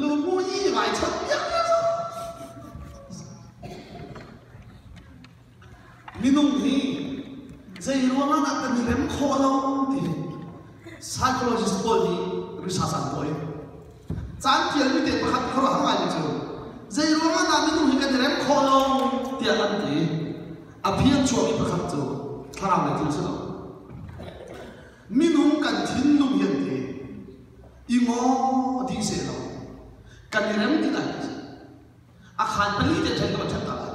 Lumu i raichanh piakpiak. Minung hi zei ruangah dah kan i rem khawh lo ti psychologist pawl nih risas an kawi. Caan tialmi te pakhat khuaruah ngaimi cu zei ruangah dah minung hi kan i rem khawh lo tiah an ti. A phi an chuahmi pakhat cu thlarau lei thil si lo. Minung kan thinlung hiante i ngaw dih seh lo. Kan i rem ti lai lo. A khaan pali te ṭhen ka va ṭhen hna lai.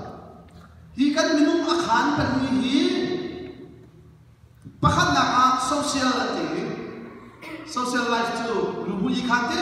Hi kan minung a khaan pali hi pakhatnak ah social ati i social life cu rubuli khaan te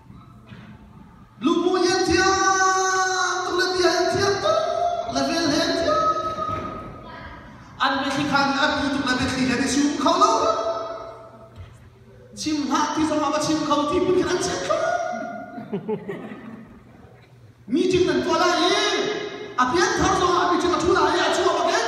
Luhmu hi an thiam tuk le bia hi an thiam tuk le vel he an thiam. An biathli khan an pu tuk le biathli he an i sum kho lo. Chim hlah ti zong ah va chim kho ti phun khin an chiat kho. Mi cin nan tuah lai i a pian thar zong ah mi cin a thu lai i a cu a bak in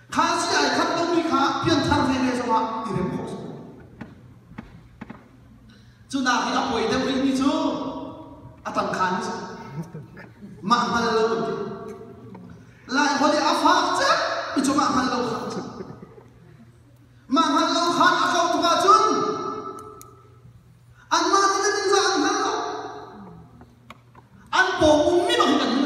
Kha si ai khat lomi kha pianthar veve zongah i rem khawh a si. Cunak i a poi deuh rihmi cu a tangkhan mi si. Mah hngal lo an ti. Lai holh i a fak cek mi cungah hngal lo kha a si. Mah hngal lo khan a kauh tuk ahcun anmah nih le ningzah an hngal lo. An pawng ummi bang hin an hngal.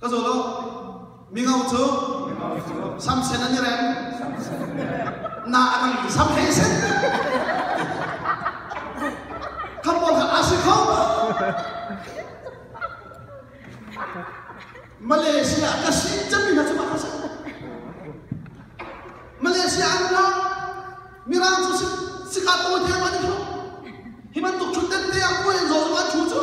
ka zaw law mingo cu samsen an i reng na a dang in sam hei sen kan pawl kha asi kho Malaysia ka si cami hna cu ma ka sa Malaysia an ra Mirang cu sika to te ma ni tho hi man tuk chun den te a ko len zo zong an thu cu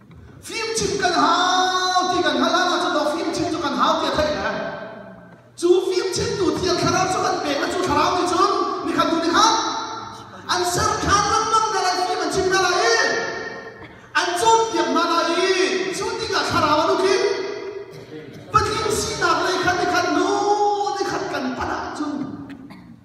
Fim chim kan hau ti kan hngalh hlan ahcun dok fim chim cu kan hau ti a thei le cu fim chimtu thiang thlarau cu an pek a cu thlarau nih cun ni khat hnu ni khat an ser ṭhan lengmang hna lai fim an chim hna lai i an cawnpiak hna lai i cu tikah thlarau an uk i patling sinak lei khan ni khat nu ni khat kan phanh ahcun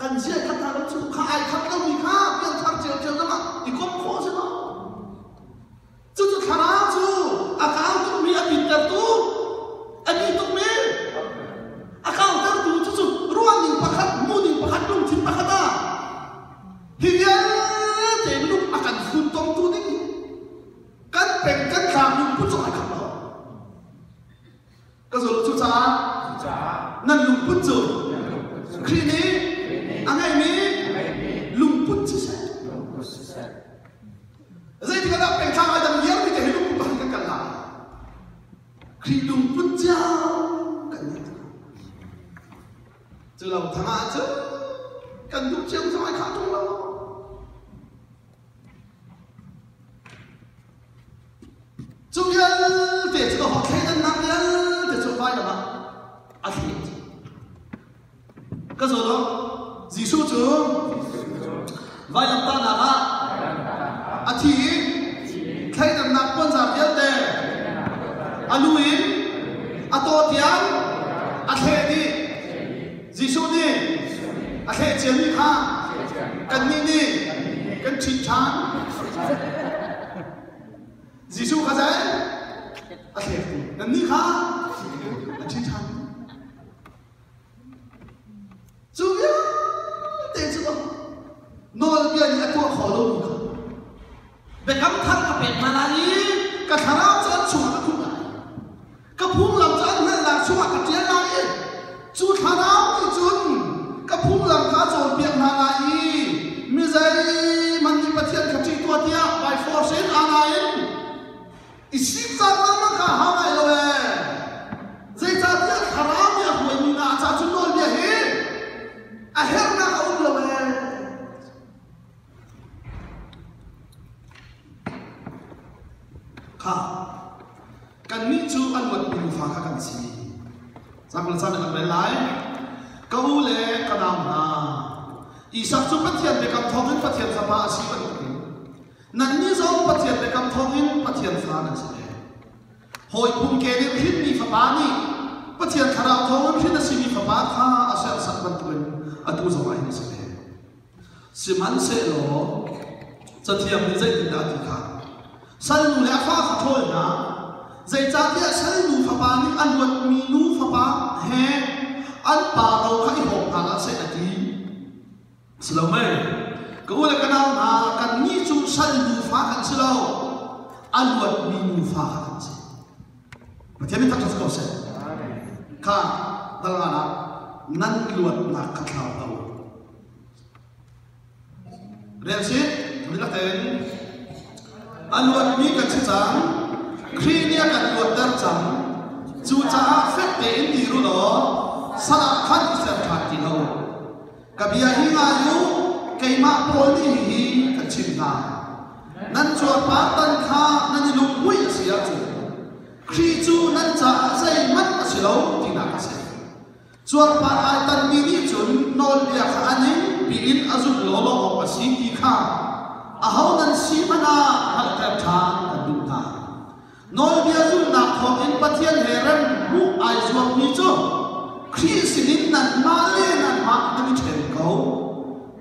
kan chiahthat hna lo cu kha ai khat lomi kha pianthar ceu zong ah i kom khawh si lo cucu thlarau cu a kau tukmi a pitlatu a ni tuk men a kautertu cucu ruahning pakhat hmuhning pakhat lungthin pakhat ah hi vialte minung a kan funtomtu ding kan peng kan tlang lungput zong ai khat lo Ka zulh cucaah nan lungput cu Khrih nih a ngeimi lungput siseh zeitikahdah pengthlang ai dang vialte hi lungput pakhat kan kal lai Khrih lungput cia kan ngei cu lo thang ah cu kan duh cio zong ai khah ṭung lo Cu vialte cu ka hawt thleidannak vialte cu hmailam ah a thleh. Ka zaw law, Jesuh cu vailamtahnak ah a thi i thleidannak puanzar vialte a lu in a taw tiang a thleh dih. Jesuh nih a thleh ciami kha kannih nih kan ṭhit ṭhan. Jesuh kha zei a thleh nannih kha a ṭhit ṭhan. Cu vialte cu nawlbia nih a tuah khawh lomi kha Biakam thar ka pek hna lai i ka thlarau cu an chungah ka khuh lai. Ka phunglam cu an hngalhnak chungah ka ṭial lai i cu thlarau nih cun ka phunglam kha cawnpiak hna lai i mi zeihmanh nih Pathian kha ṭih tuah tiah by force in aa nain i sik caan lengmang kha hau ngai lo ee. Zeicahtiah thlarau nih a hruaimi hna ca cu nawlbia hi a herhnak a um lo ee. Kannih cu an huatmi nufa kha kan si. Caan le caan kan rel lai. Ka u le ka nau hna, Isak cu Pathian biakam thawngin Pathian fapa a si bantukin nannih zong Pathian biakam thawngin Pathian fa nan si ve. Hawi phung ke nih hrinmi fapa nih Pathian thlarau thawngin hrin a simi fapa kha a serhsat bantukin atu zongah hin a si ve. Sihmanhsehlaw Cathiang nih zeitindah a ti kha? Salnu le a fa kha ṭhawl hna. Zeicahtiah salnu fapa nih a luatmi nu fapa he an pa ro kha i hawp hna hlah seh a ti. Si lo mei? Ka u le ka nau hna, kannih cu salnu fa kan si lo, a luatmi nu fa kha kan si. Pathian in thangṭhat si ko seh. Kha dal ngan ah nan luatnak kha thlau hlah u. Relsit, milatein an luatmi kan si cang. Khrih nih a kan luatter cang. Cucaah fek tein ti ru law salah khan i ser ṭhan ti lo. Ka bia hi ngai u, keimah Paul nih hihi kan chimh hna. Nan cuarpartan kha nan i lunghmuih a si ahcun Khrih cu nan caah zeihmanh a si lo tinak a si. Cuarpar ai tanmi nih cun nawlbia kha a ningpi in a zulh lawlaw awk a si ti kha aho nan si hmanh ah hngalhter ṭhan kan duh hna. Nawlbia zulhnak thawngin Pathian he rem ruh ai zuammi cu Khrih sinin nanmah le nanmah nan i ṭhen ko.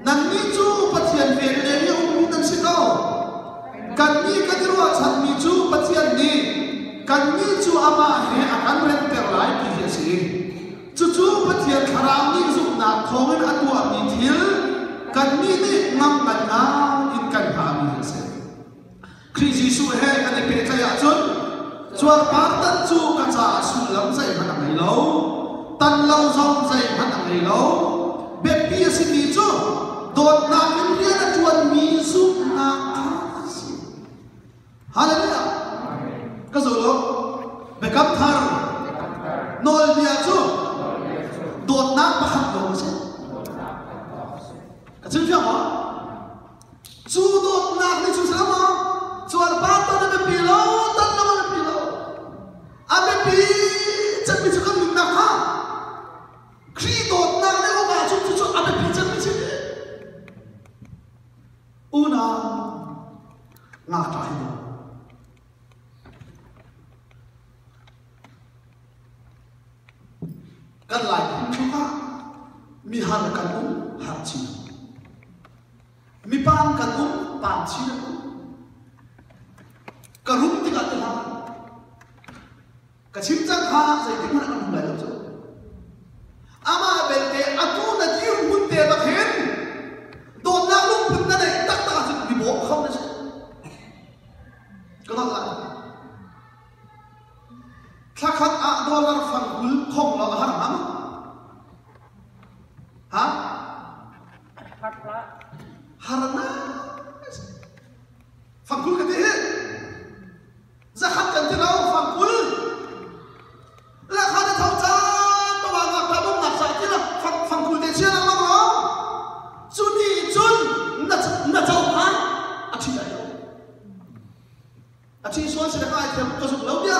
Nannih cu Pathian velhle nih a ummi nan si lo. Kannih kan i ruahchanmi cu Pathian nih kannih cu amah he a kan remter lai ti hi a si. Cucu Pathian thlarau nih zumhnak thawngin a tuahmi thil kannih nih ngam kan ngah in kan hngami hi a si. Khrih Jesuh he kan i pehtlaih ahcun cuarpar tan cu ka caah sullam zeihmanh a ngei lo. Tan lo zong zeihmanh a ngei lo. Biapi a simi cu dawtnak in rian a ṭuanmi zumhnak ṭha a si. Hallelujah! Ka zo lo. Biakam thar nawlbia cu dawtnak pakhat lawng a si. Ka chim ṭhiam maw? Cu dawtnak nih cu silo maw? Cuan panpan a biapi lo, tan lo a biapi lo. A biapi cemmi cu kan nunnak kha Khrih dawtnak le awka cu cucu a biapi cemmi si. Unau ngakṭa hi do. Kan lai phun chung ah mi har kan um har chin. Mipa an kan um, pan chin an um. Ka rum tikah tu hang. Ka chim cang kha zeitin mana kan um lai lo cu. Ama belte atu na dir hun te bak hin dawtnak lungphun na nei taktak ah cun mi bawm kham na si. Ka mak lai. Thlakhat ah dollar fang kul khong lo a har ham. Ha? Fangkul ka ti hi zakhat kan ti lo fangkul lakha te thau caan pama ngak ta dum nak sa ti la fangkul te chia lang lo cu ni cun na cho han a thi lai lo a thi suan si da kai thiam ka zuk lo bia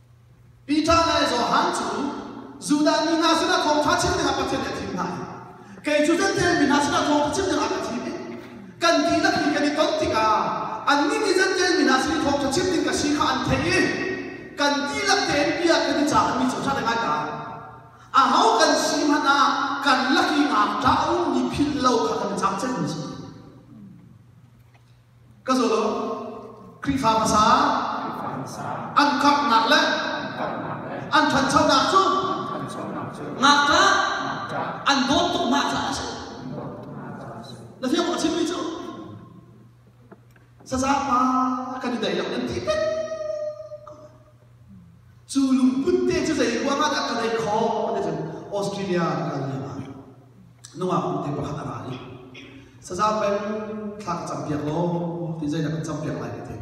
Peter le Johan cu Judah mi hna sinah thawngṭha chim dingah Pathian nih a thim hna i kei cu Jentail mi hna sinah thawngṭha chim dingah ka thim i kan dihlak i kan i ton tikah annih nih Jentail mi hna sin i thawngṭha chim ding ka si kha an theih i kan dihlak tein bia kan i cah anmi cu ṭha le ngai ka aho kan si hmanh ah kan lak i ngam ṭak a ummi philh lo kha kan i cang cemmi a si. ka zaw lo Khrihfa hmasa an khamhnak le an ṭhanchonak cu ngakṭah an dawt tuk mah caah a si na fiang a chimmi cu sasa pa kan i daihlo nan ti pet Cu lungput te cu zei ruangah dah ka neih khawh ti cun Australia ka kal lengah nungak pute pakhat a ra i sazau peng thla ka cam piak law ti zeidah kan cam piak lai ka ti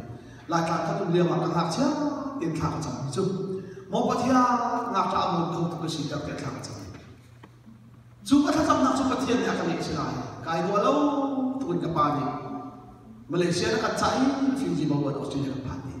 lai tla khat um lio ah ka ngakchia tein thla ka cam cu mo pathia ngakṭa a mawn kho tuk ka si tiah thla ka cam cu ka thlacamnak cu pathian nih a ka lehchih lai kai dua lo tukin ka pa nih Malaysia na kan cah i Fiji Melbourne Australia kan phan dih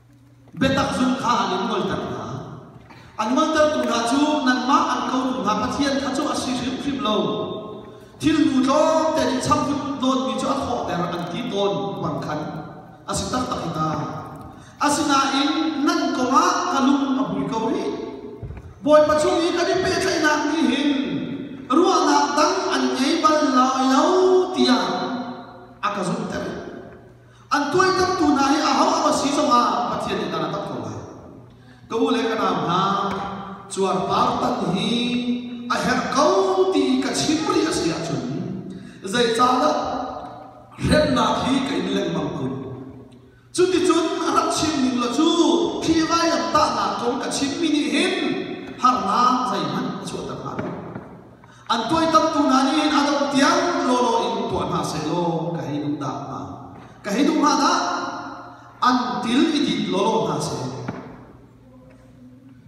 Biatak zung kha an in ngolter hna. An ngoltertu hna cu nanmah an kotu hna Pathian kha cu a si hrimhrim lo. Thilnu tlawmte nih changfun dawtmi cu a thawh der an ti tawn tuan khan a si taktak hi ta. Asinain nan kongah ka lung a hmui ko rih. Bawipa chung i kan i pehtlaihnak nih hin ruahnak dang an ngei bal lo tiang a ka zumhter. an tuaitamtu hna hi aho aho si zongah Pathian nih dan a tam ko lai ka u le ka nau hna cuarpar tan hi a herh ko ti ka chim rih a si ahcun zeicahdah hremnak hi ka in lengmang kun cuticun rak chim ning law cu phi vailam tahnak kong ka chimmi nih hin harnak zeihmanh a chuahter hna lo an toitamtu hna nih hin a dongh tiang lawlaw in tuah hna seh law ka hei duh dah hnga ka hei duh hnga dah an til i dit lawlaw hna seh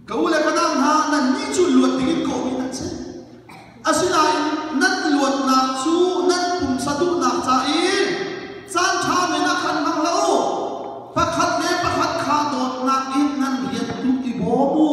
ka u le panau hna nannih cu luat dingin ka um i nan si asinain nan i luatnak cu nan pumsa duhnak ca i caan ṭha men ah khan hmang hlah u pakhat le pakhat kha dawtnak in nan rian tuk i bawm u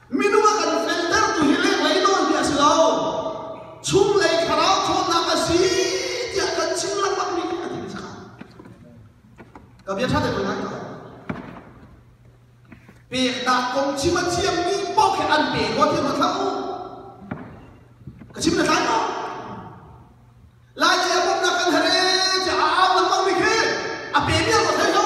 Minung a kan feltertu hi lenglei nawn hi a si lo. Chunglei thlarau ṭhawnnak a si tiah kan chim lengmangmi khi a thi sakah. Ka bia ṭha te ko lai ka. Peknak kong chim a thiammi paoh khi an pe ko thiam a tlau. Ka chim na tlai ko. Lai i a bawmhnak kan herhe tiah a au lengmangmi khi a pe mial ko thai ko.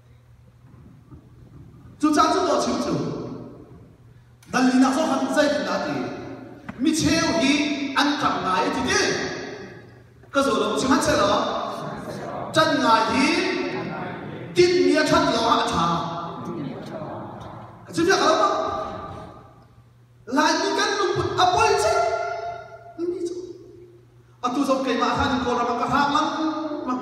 Cucaah cu dawh chimchim. Danlinak cu han zeitindah ti micheu hi an ṭang ngai ti ti ka zaw lo sihmanhsehlaw can ngai hi tinhmi a ṭhat lio ah a ṭha ka chimia ka lo ko Laimi kan lungput a poi cia mi cu atu zong keimah khan Kawlram ah ka hrang lengmang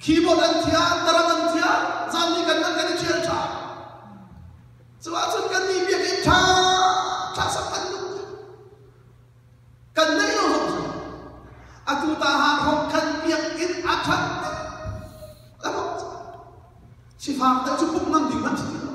Keyboard an thiam, tarang an thiam, zan ni kan man kan i ṭhial ṭhan. Cuah cun kan nih bia kan ṭha, ṭha sam kan duh. Kan neih lo zong cu. Atu ta ha khom khan biakinn a ṭhat tuk. A khom cu. Sifak deuh cu pumh ngam ding an si ti lo.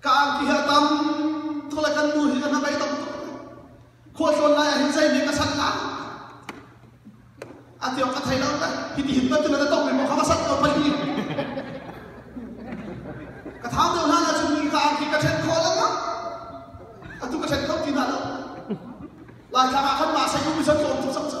ka angki hi a tam tuk le kan nu hi kan rak dei tam tuk khua tlawn lai ah hin zei nih ka sanh lai a tiawk ka thei lo ta hi ti hin bantuin a tong mi kha ka sanh ko pei hi ka thau deuh hlan ah cun ka angki ka ṭhen kho lang atu ka ṭhen kho ti na lo lai tlang ah khan ma sai ku mi san zawm cu sak ca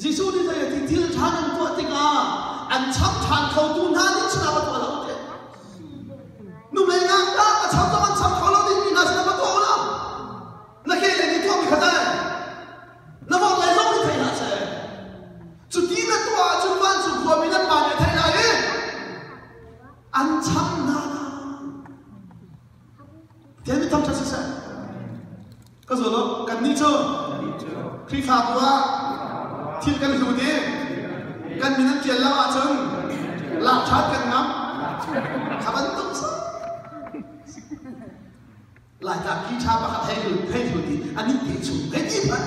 Jesuh nih zei a ti thil ṭha nan tuah tikah an cham ṭhan khotu hna nih cun a va tuah lo te. Hnulei ah dah ka cham zong an cham kho lo dingmi hna sin a va tuah lo. Na kehlei nih tuah mi kha tei. Na vorhlei zong nih thei hlah seh. Cu ti na tuah ahcun van cu khuami nan pa nih a theih lai i an cham hna lai. David thangṭhat siseh. Ka zaw law kannih cu Khrihfabu ah thil kan hlut i kan min an ṭial lo ahcun lak ṭhan kan ngam. A bantuk sa. Laita khi ṭha pakhat hei hei hlut i anih te chung hei ti phanh.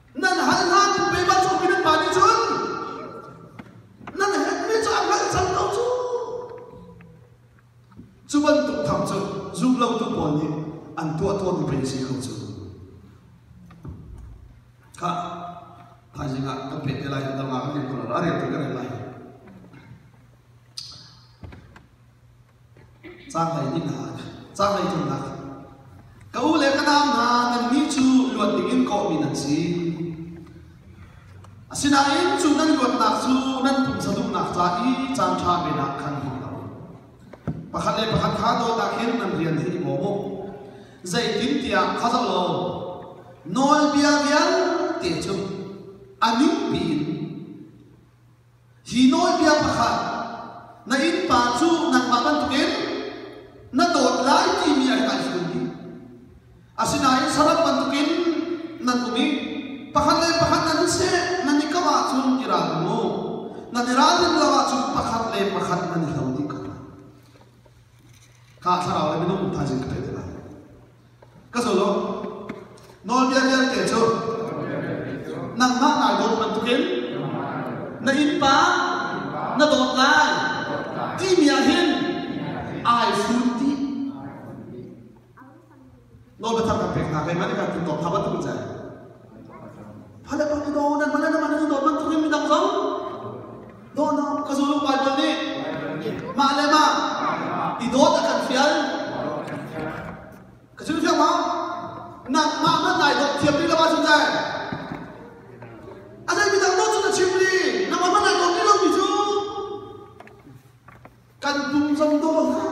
nan hal hlan in keimah cungmi nan pa nih cun nan hetmi cu an hngalhchan ko cu cu bantuk thang cu zum lotu pawl nih an tuah tawnmi pei a si kho cu kha thaizing ah kan pek te lai kan dama kan rel ko lai a rel tu kan rel lai Caanglei tlunnak ah ka u le ka nau hna nannih cu luat dingin kawhmi nan si. Asinain cu nan luatnak cu nan pumsa duhnak ca i caan ṭha men ah khan hung lo. Pakhat le pakhat kha dawtnak hin nan rian hi i bawm u. Zeitintiah kha zalaw nawlbia vialte cu a ning piin Hi nawlbia pakhat na innpa cu nangmah bantukin na dawt lai timi a kan hrin ding. Asinain saram bantukin nan um i pakhat le pakhat nan i seh nan i kamh ahcun i ralring u. Nan i ralrin lo ahcun pakhat le pakhat nan i hlo dih ko lai. Kha thlarau le minung thaizing ka theih te lai. Ka zuluk. Nawlbia vialte cu nangmah nai dawt bantukin na innpa na dawt lai timi ah hin ai sun ti. Nawl biathang kan pek hna, keimah nih kan tlun tawk hna bantuk in sai. Fale kan i daw nan male nan male nu daw bantuk in midang zong daw no ka zulu Bible nih mah le mah i dawt a kan fial ka zulu fiang ma nan mah nan nai dawt thiam rih lo ba zung dai a zei midang dawt cu na chim li na ma nai dawt rih lomi cu kan pum zong daw hlah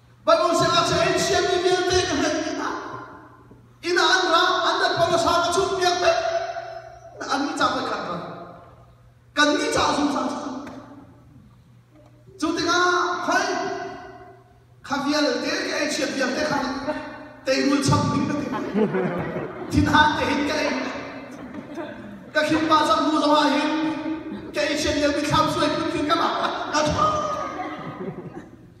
Banu sinah saya in chiami vialte ka hnek inn ah inn ah an ra an nan pawlasa ka chumh piak te an ni ca voi khat ra kan ni ca zungzal cu cu tikah hoi kha vialte ka ei chiam piak te khan teirul cham mi ka ti thinhan te hin ka ei ka khin pa zam hnu zong ah hin ka ei chian lio mi thlam suai phun tlin ka ba ka tho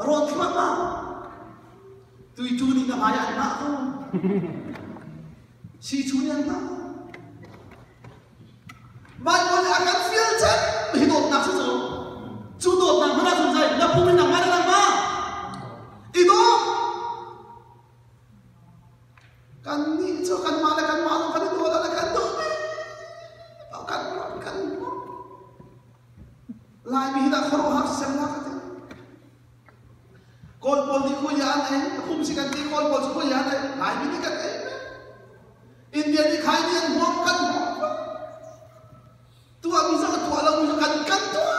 Rawn thluak ah tuitu nih na hmai ah an hngah ko. Sichu nih an hngah. Van mon a kan fial cek hi dawtnak si zo. Cu dawtnak hmana zun zai na pum in nang ma na nang ma. I dawt. Kan nih cu kan ma le kan ma zong kan i dawt le kan dawt. Kan ram kan ram. Laimi hi dah khuaruahhar sisem la ka ti. Kawl pawl nih kuya an ei, kum si kan ti Kawl pawl cu kuya an ei, Laimi nih kan ei na. India nih khai ni an huam kan huam ka. Tu ah mi sa ka tuah lo mi sa kan kan tuah.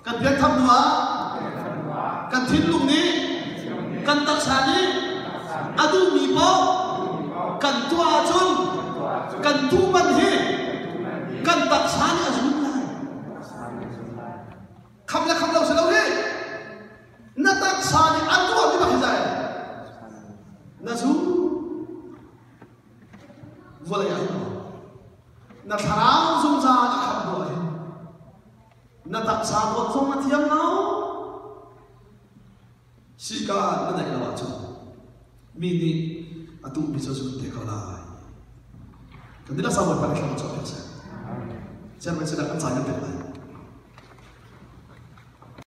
Kan pianthar hnuah kan thinlung nih kan taksa nih a duhmi paoh kan tuah ahcun kan duhman hi kan taksa nih a zun lai. Kham le kham lo si lo hi na taksa nih a tuahmi bak hi zai na zu vawlei ah hin na thlarau zungzal ah ham tuah hi Na taksa dawt zong a thiang lo. Sika na naih lo ahcun mi nih a tuhmi cu zun te ko lai. Kan nila sabuat pang thlang chuah piak seh. Sian mai sila kan cai na pek lai.